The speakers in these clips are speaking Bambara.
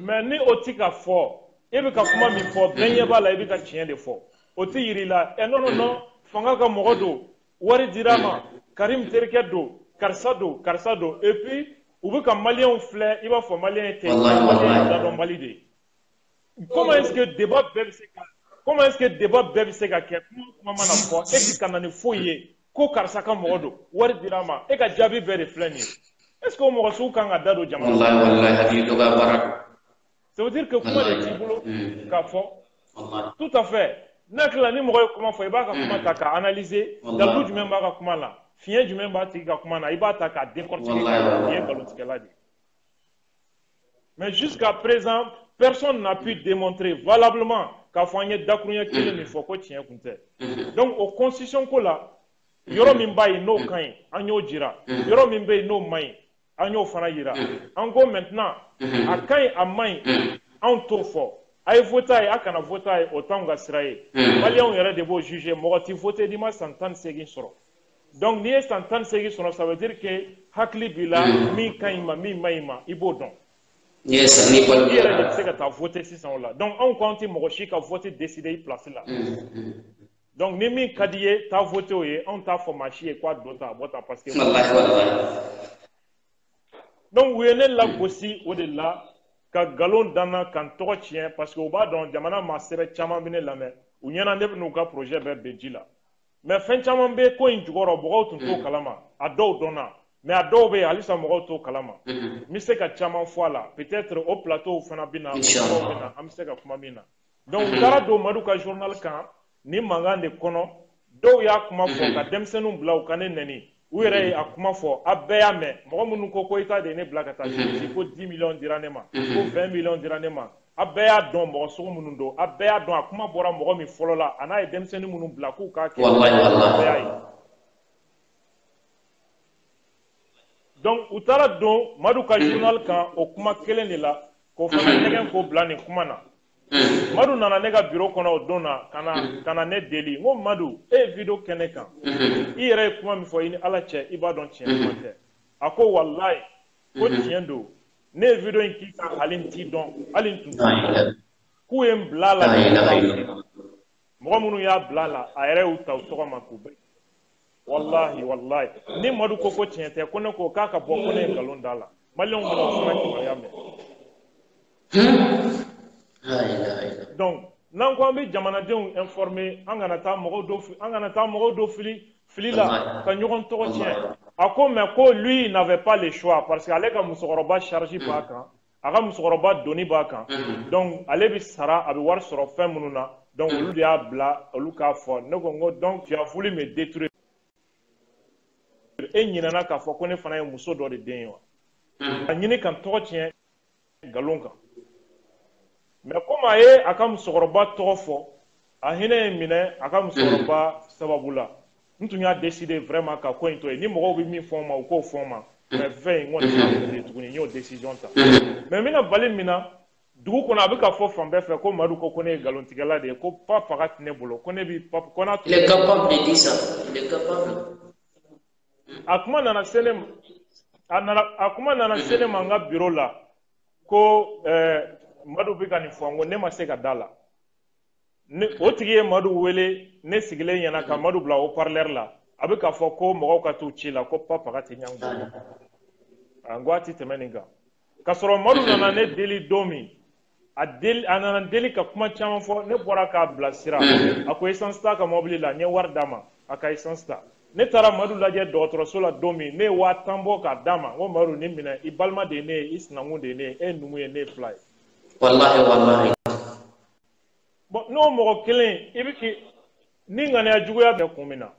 mais ni o ti ka fɔ e bɛ ka kuma min fɔ bɛɛ ɲɛ b'a la i bɛ ka tiɲɛ de fɔ o tɛ yiri la ɛ non non non fanga ka mɔgɔ don wari dira ma karim terikɛ don karisa don karisa don et puis u bɛ ka maliyɛnw filɛ i b'a fɔ maliyɛn ye kɛɲɛ maliyɛn ye ladɔn mali de ye comment est ce que débat bɛɛ bɛ se ka comment est ce que débat bɛɛ bɛ se ka kɛ kuma kuma mana fɔ e ti ka na ni foyi ye ko karisa ka mɔgɔ don wari dira ma e ka jaabi bɛɛ de filɛ nin ye est ce que o mɔgɔ sugu kan ka da don jamana wallahi wallahi hakili dɔgɔya baara don ça veut dire que kuma de t'i bolo mm. k'a fɔ tout à fait n'a tilala ni mɔgɔ ye kuma fɔ i b'a ka mm. kuma ta k'a analyser dalu jumɛn b'a ka kuma na fiɲɛ jumɛn b'a tigi ka kuma na i b'a ta k'a décortiquer k'a ye nkalontigɛla de ye Mais jusqu'à présent, personne n'a pu démontrer valablement k'a fɔ an ye dakurunya kelen min fɔ ko tiɲɛ kun tɛ mm-hmm. donc o constitution ko la mm-hmm. yɔrɔ min b'a ye n'o mm-hmm. ka ɲi an y'o jira yɔrɔ min bɛ yen n'o man ɲi an y'o fana jira an ko maintenant a ka ɲi a man ɲi anw t'o fɔ a ye vote a ye a kana vote a ye o t'anw ka sira ye maliyɛnw yɛrɛ de b'o juger mɔgɔ tɛ vote n'i ma san tan ni seegin sɔrɔ donc n'i ye san tan ni seegin sɔrɔ ça veut dire que hakili b'i la mm. min ka ɲi ma min man ɲi ma i b'o dɔn i yɛrɛ de bɛ se ka taa vote sisan o la donc anw ko an tɛ mɔgɔ si ka vote décider i place la mm, mm. donc ni min ka di ye taa vote o ye anw t'a fɔ maa si ye k'a don ta a bɔ ta parce que donc u ye ne lagosi o de la ka nkalon da n na ka n tɔgɔ tiɲɛ parce que u b'a dɔn jamana maa sɛbɛ caman bɛ ne lamɛn u ɲɛ na ne bɛ n'u ka projet bɛɛ ben ji la mais fɛn caman bɛ ko in jukɔrɔ mɔgɔw tun t'o kalama a dɔw dɔnna mais a dɔw bɛ yen halisa mɔgɔw t'o kalama n bɛ se ka caman fɔ a la peut-être o plateau fana bɛ na o yɔrɔw bɛ na an bɛ se ka kuma min na donc u taara don madu ka journal kan ni mankan de kɔnɔ dɔw y'a kuma fɔ ka denmisɛnninw bila u ka ne nɛni u yɛrɛ ye a kuma fɔ a bɛɛ y'a mɛn mɔgɔ minnu ko koyita de ye ne bila ka taa si ko dix millions dira ne ma ko vingt millions dira ne ma a bɛɛ y'a dɔn mɔgɔ sugu minnu don a bɛɛ y'a dɔn a kuma bɔra mɔgɔ min fɔlɔ la a n'a ye denmisɛnnin minnu bila k'u k'a kɛ bɛɛ y'a ye donc u taara don madu ka journal kan o kuma kelen de la k'o fana ɲɛgɛn k'o bila nin kuma na Mm. madu nana ne ka biro kɔnɔ o don na ka na mm. ka na ne deli n ko madu e ye video kɛ ne kan mm-hmm. i yɛrɛ ye kuma min fɔ i ni ala cɛ i b'a dɔn tiɲɛ kuma mm-hmm. tɛ a ko walayi ko mm-hmm. tiɲɛ don ne ye video in k'i kan hali n t'i dɔn hali n tun t'i dɔn k'u ye n bila a la mɔgɔ minnu y'a bila a la a yɛrɛ y'u ta u tɔgɔ ma k'u bɛɛ walahi walahi ni madu ko ko tiɲɛ tɛ ko ne ko k'a ka bɔ ko ne ye nkalon d'a la maliyɛnw bɛna o fana kibaruya mɛn donc n'an ko an bɛ jamanadenw informer an kana taa mɔgɔw do fili fili la ka ɲɔgɔn tɔgɔ tiɲɛ a ko mais ko lui il n'avait pas le choix parce que ale ka musokɔrɔba charge b'a kan a ka musokɔrɔba doni b'a kan mm-hmm. donc ale bɛ sara a bɛ wari sɔrɔ fɛn minnu na donc mm-hmm. olu de y'a bila olu k'a fɔ ne ko n ko donc tu as voulu me détruire e ɲinɛna k'a fɔ ko ne fana ye muso dɔ de den ye wa mm-hmm. a ɲini ka n tɔgɔ tiɲɛ nkalon kan mais komi a ye a ka musokɔrɔba tɔgɔ fɔ a hinɛ ye n minɛ a ka musokɔrɔba sababu la n tun y'a décider vraiment ka ko in to yen ni mɔgɔw bɛ min fɔ n ma u k'o fɔ n ma mais fɛn in n kɔni y'a décider tuguni n y'o décision ta mais n bɛna bali min na dugu kɔnɔ a bɛ ka fɔ fan bɛɛ fɛ ko madu ko ko ne ye nkalontigɛla de ye ko pa faga tɛ ne bolo ko ne bi pa ko n'a tun a kuma nana se ne ma n ka biro la ko ɛɛ eh, madu bɛ ka nin fɔ n ko ne ma se ka d'a la o tigi ye madu wele ne sigilen ɲɛna ka madu bila haut-parleur la a bɛ k'a fɔ ko mɔgɔw ka t'u ci la ko pa faga tɛ niang bolo n ko a tɛ tɛmɛ nin kan k'a sɔrɔ madu nana ne deli don min a nana deli ka kuma caman fɔ ne bɔra k'a bilasira a ko essence t'a ka mɔbili la n ye wari d'a ma a ka essence ta ne taara madu lajɛ dɔgɔtɔrɔso la don min ne ye waa tan bɔ k'a d'a ma n ko madu nin minɛ i balima de ye ne ye i sinankun de ye ne ye e ye numu ye ne ye fila ye. walahi walahi. bon n'o mɔgɔ kelen i bɛ k'i ni ŋaniya juguya bɛ kun min na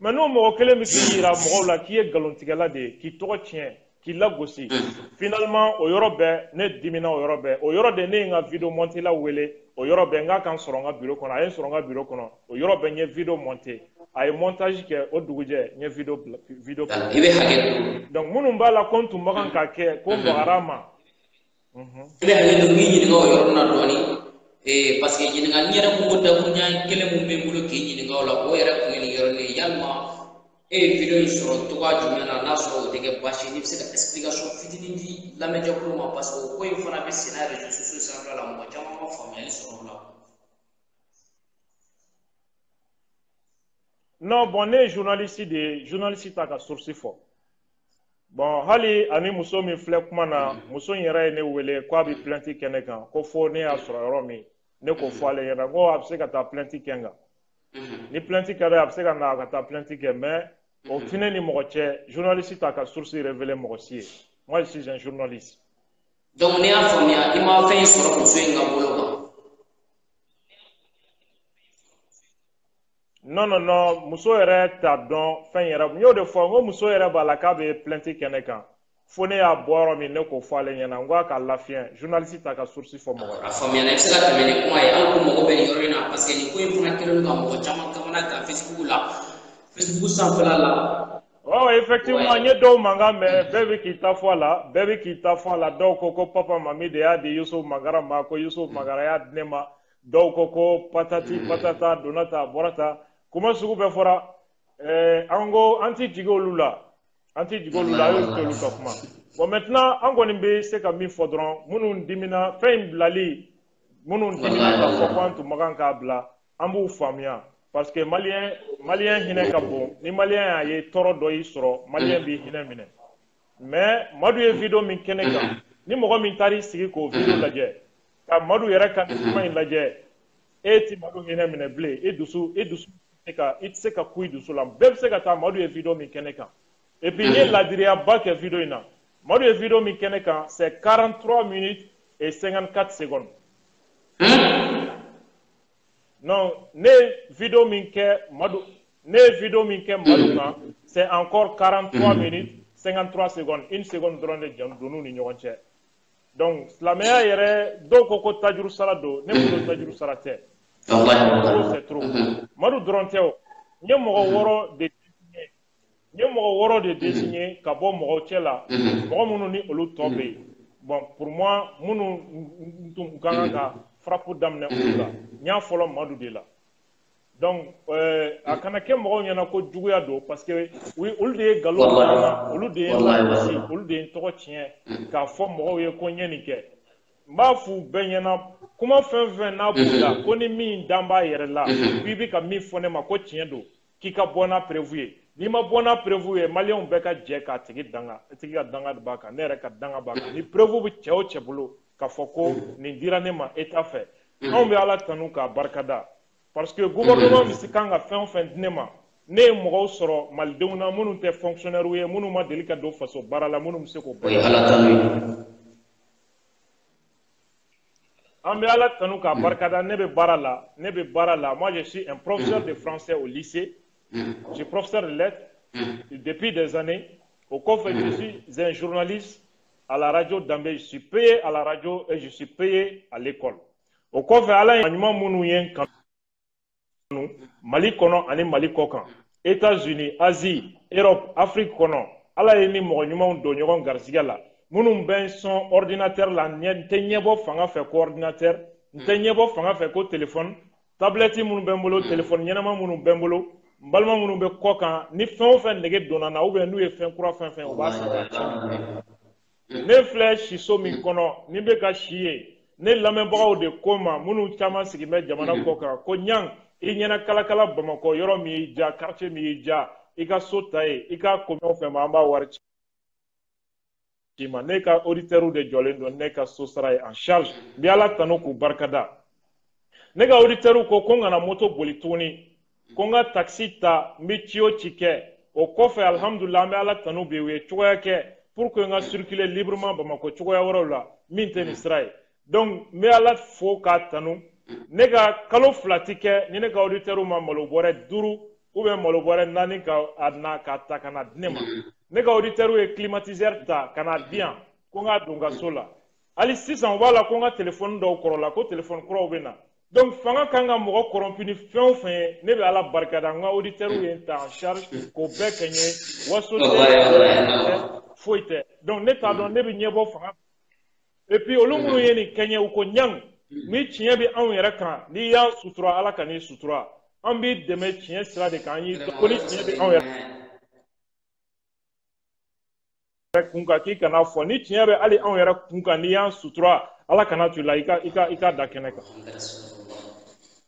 mais n'o mɔgɔ kelen bɛ k'i yira mɔgɔw la k'i ye nkalontigɛla de ye k'i tɔgɔ tiɲɛ k'i lagosi finalement o yɔrɔ bɛɛ ne dimina o yɔrɔ bɛɛ o yɔrɔ de ne ye n ka video montela wele o yɔrɔ bɛɛ n k'a ka n sɔrɔ n ka biro kɔnɔ a ye n sɔrɔ n ka biro kɔnɔ o yɔrɔ bɛɛ n ye video monter a ye montage kɛ o dugujɛ n ye video video donc minnu b'a la ko n tun man kan k'a kɛ ko n bagara a ma i bɛ hakɛ to n b'i ɲininka o yɔrɔ na dɔɔni ee parce que ɲininkali yɛrɛ kun ko dakuruɲa kelen min bɛ n bolo k'i ɲininka o la o yɛrɛ kun ye nin yɔrɔnin ye yalima e ye video in sɔrɔ cogoya jumɛn na n'a sɔrɔ o tɛ kɛ baasi ye n'i bɛ se ka explication fitinin di lamɛnjɛkulu ma parce que o ko in fana bɛ senna réseaux sociaux sanfɛla la mɔgɔ caman ma faamuyali sɔrɔ o la. non bon ne ye journaliste de ye journaliste t'a ka source fɔ. bon hali ani muso min filɛ kuma na muso in yɛrɛ ye ne wele ko a bɛ plainte kɛ ne kan ko fo ne y'a sɔrɔ yɔrɔ min ne k'o fɔ ale ɲɛna ko a bɛ se ka taa plainte kɛ n kan ni plainte kɛra a bɛ se ka na ka taa plainte kɛ mais o tɛ ne ni mɔgɔ cɛ journaliste t'a ka source révéler mɔgɔ si ye moi je suis un journaliste donc ne y'a faamuya i ma fɛn in sɔrɔ muso in ka bolo kan non non non muso yɛrɛ t'a dɔn fɛn yɛrɛ n y'o de fɔ n ko muso yɛrɛ b'a la k'a bɛ plainte kɛ ne kan fo ne y'a bɔ yɔrɔ min ne k'o fɔ ale ɲɛna n ko a ka lafiɲɛ journaliste t'a ka source fɔ mɔgɔ ye. a faamuyana i bɛ se ka tɛmɛ ni kuma ye an ko mɔgɔ bɛ nin yɔrɔ in na parce que nin ko in fana kɛlen don ka mɔgɔ caman kamana gan facebook la facebook sanfɛla la. ɔ effectivement n ye dɔw mankan mɛn bɛɛ bɛ k'i ta fɔ a la bɛɛ bɛ k'i ta fɔ a la dɔw ko ko papa mami de y'a di yusufu mangara ma ko yusufu mangara y'a di ne ma. dɔw ko ko patati patata donna ta bɔra ta kuma sugu bɛɛ fɔra eh, an ko an ti jigi olu la an ti jigi olu la an y'olu t'olu ka kuma bon maintenant an kɔni bɛ se ka min fɔ dɔrɔn minnu dimina fɛn in bilali minnu dimina ka fɔ ko an tun man kan k'a bila an b'u faamuya parce que maliyɛn maliyɛn hinɛ ka bon ni maliyɛn y'a ye tɔɔrɔ dɔ y'i sɔrɔ maliyɛn b'i hinɛ minɛ mais madu ye video min kɛ ne kan ni mɔgɔ min taar'i sigi k'o video lajɛ ka madu yɛrɛ ka nin kuma in lajɛ e ti madu hinɛ minɛ bilen e dusu e dusu se ka i tɛ se ka ku i dusu la bɛɛ bɛ se ka taa madu ye video min kɛ ne kan et puis n ye ladiriyaba kɛ video in na madu ye video min kɛ ne kan c'est 43 minutes et 54 secondes non ne ye video min kɛ madu ne ye video min kɛ madu kan c'est encore 43 minutes 53 secondes une seconde dɔrɔn de donn'u ni ɲɔgɔn cɛ donc silamɛya yɛrɛ dɔw ko ko tajuru sara don ne bolo tajuru sara tɛ c'est trop madu dɔrɔn tɛ o n ye mɔgɔ wɔɔrɔ de désigné n ye mɔgɔ wɔɔrɔ de désigné ka bɔ mɔgɔw cɛ la mɔgɔ minnu ni olu tɔ bɛ yen bon pour moi minnu n tun ka kan ka frappe daminɛ olu la n y'a fɔlɔ madu de la donc euh, a kana kɛ mɔgɔw ɲɛna ko juguya don parce que oui olu de ye galo olu de ye olu de ye n tɔgɔ tiɲɛ mm. k'a fɔ mɔgɔw ye ko n ye nin kɛ n b'a f'u bɛɛ ɲɛna kuma fɛn fɛn n'a mm-hmm. b'u la ko ni min dan b'a yɛrɛ la mm-hmm. ko i bɛ ka min fɔ ne ma ko tiɲɛ don k'i ka bɔ n'a preuve ye n'i ma bɔ n'a preuve ye maliyɛnw bɛɛ ka jɛ k'a tigi danga a tigi ka danga b'a kan ne yɛrɛ ka danga b'a kan ni preuve bɛ cɛ o cɛ bolo k'a fɔ ko mm-hmm. nin dira ne ma État fɛ anw bɛ ala tanu k'a barikada parce que gouvernement bɛ se kan ka fɛn o fɛn di ne ma ne ye mɔgɔw sɔrɔ malidenw na minnu tɛ fonctionnaire ye minnu ma deli ka don faso baara la minnu bɛ se k'o bɛɛ an bɛ ala tanu k'a barikada ne bɛ baara la ne bɛ baara la moi je suis un professeur de français au lycée je suis professeur de lettres depuis des années o kɔfɛ je suis un journaliste à la radio Dambé je suis payé à la radio et je suis payé à l'école o kɔfɛ ala ye ɲuman minnu ye n kanu mali kɔnɔ ani mali kɔ kan etats unis asie europe afrique kɔnɔ ala ye n ni mɔgɔ ɲumanw don ɲɔgɔn garisigɛ la minnu bɛ n sɔn ordinateur la n tɛ ɲɛbɔ fanga fɛ ko ordinateur n tɛ ɲɛbɔ fanga fɛ ko telefɔni tablɛti minnu bɛ n bolo telefɔni ɲɛnama minnu bɛ n bolo n balima minnu bɛ kɔ kan ni fɛn o fɛn nege donna n na ou bien n'u ye fɛn kura fɛn fɛn u b'a san mhm. ne filɛ siso min mhm. kɔnɔ ni bɛ ka si ye ne lamɛnbagaw de ko n ma minnu caman sigi bɛ jamana mhm. kɔ kan ko ɲan i ɲɛna kalakala bamakɔ yɔrɔ min y'i ja quartier min y'i ja i ka so ta yen i k'a koɲɛw fɔ an ma an b'a wari ci i ma ne ka auditeurs de jɔlen don ne ka so sara ye en charge n bɛ ala tanu k'u barikada ne ka auditeurs ko ko n kana moto boli tuguni ko n ka takisi ta n bɛ ci o ci kɛ o kɔfɛ alihamudulila an bɛ ala tanu bi u ye cogoya kɛ pour que n ka circuler librement bamakɔ cogoya wɛrɛw la min tɛ nin sira ye donc n bɛ ala fo k'a tanu ne ka kalo fila ti kɛ ni ne ka auditeurs ma malo bɔrɛ duuru ou bien malo bɔrɛ naani ka a na k'a ta ka na di ne ma ne ka auditeurs ye climatiseur ta ka na di yan ko n k'a don n ka so la hali sisan u b'a la ko n ka telefɔni dɔw kɔrɔla ko telefɔni kuraw bɛ na donc fanga kan ka mɔgɔ kɔrɔnpi ni fɛn o fɛn ye ne bɛ ala barikada n ka auditeurs ye n ta en charge k'o bɛɛ kɛ n ye waso foyi tɛ donc ne t'a dɔn ne bɛ ɲɛbɔ fanga et puis olu minnu ye nin kɛ n ye u ko ɲan ni tiɲɛ bɛ anw yɛrɛ kan n'i y'an sutura ala kan'i sutura an b'i dɛmɛ tiɲɛ sira de kan an y'i ko ni tiɲɛ bɛ anw yɛrɛ yɛrɛ kun kan k'i ka n'a fɔ ni tiɲɛ bɛ hali anw yɛrɛ kun kan n'i y'an sutura ala kan'a to i la i ka i ka i k'a da kɛnɛ kan.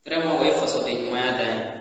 vraiment o ye fasoden ɲumanya dan ye.